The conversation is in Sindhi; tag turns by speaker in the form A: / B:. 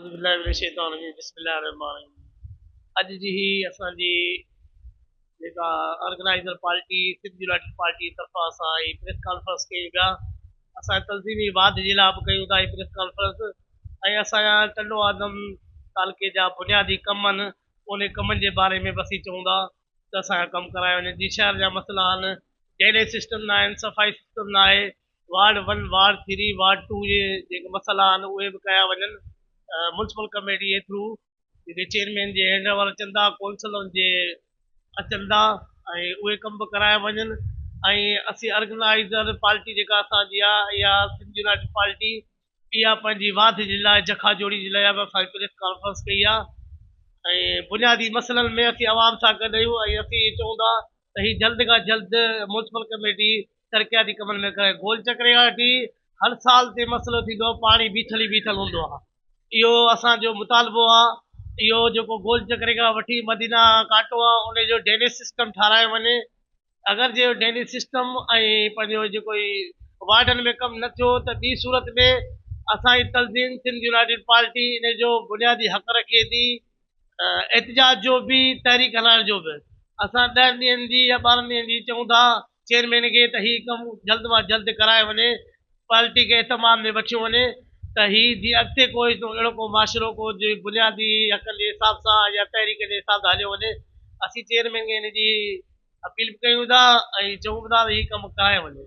A: اعوذ بالله من الشيطان الرجيم بسم الله الرحمن الرحيم اڄ جي هي اسان جي جيڪا organiser party Sindh united party طرفان اسان هي پريس کانفرنس ڪيون پيا اسان تنظيمي واڌ جي لاء به ڪيون ٿا هي پريس کانفرنس ۽ اسان جا ٽنڊو آدم تعلقي جا بنيادي ڪم آهن ان ڪمن جي باري ۾ بس هي چون ٿا ته اسان جا ڪم ڪرايا وڃن جي شهر جا مسئلا آهن ڊرينيج سسٽم نه آهن صفائي سسٽم نه آهي ward one, ward three, ward two جي جيڪي مسئلا آهن اهي به ڪيا وڃن، ميونسپل ڪميٽي جي ٿرو جيڪي چيئرمين جي هينڊ اوور اچن ٿا، ڪونسلرن جي اچن ٿا ۽ اهي ڪم به ڪرايا وڃن ۽ اسين ارگنائيزر پارٽي جيڪا اسان جي آهي اها سنڌ يونائٽيڊ پارٽي اها پنهنجي واڌ جي لاء جکا جوڙي جي لاء به اسان پريس ڪانفرنس ڪئي آهي ۽ بنيادي مسئلن ۾ اسين عوام سان گڏ آهيون ۽ اسين اهي چئون ٿا ته هي جلد کان جلد ميونسپل ڪميٽي ترقياتي ڪمن ۾ ڪري گول چڪري کان وٺي هر سال تي مسئلو ٿيندو آهي پاڻي بيٺل ئي بيٺل هوندو آهي اهو اسان جو مطالبو آهي اهو جيڪو گول چڪري کان وٺي مدينه ڪانٽو آهي ان جو ڊرينيج سسٽم ٺارايو وڃي اگر جي ڊرينيج سسٽم ۽ پنهنجو جيڪو وارڊن ۾ ڪم نه ٿيو ته ٻي صورت ۾ اسان جي تنظيم سنڌ يونائيٽيڊ پارٽي ان جو بنيادي حق رکي ٿي احتجاج جو به تحريڪ هلائڻ جو به اسان ڏهن ڏينهن جي يا ٻارهن ڏينهن جي چئون ٿا چيئرمين کي ته هي ڪم جلد مان جلد ڪرايو وڃي پارٽي کي اهتمام ۾ وٺيو وڃي ته هي جي اڳتي ڪو اهڙو ڪو معاشرو ڪو جي بنيادي حقن جي حساب سان يا تحريڪ جي حساب سان هليو وڃي اسين چيئرمين کي ان جي اپيل به ڪيون ٿا ۽ چئون به ٿا ته هي ڪم ڪرايو وڃي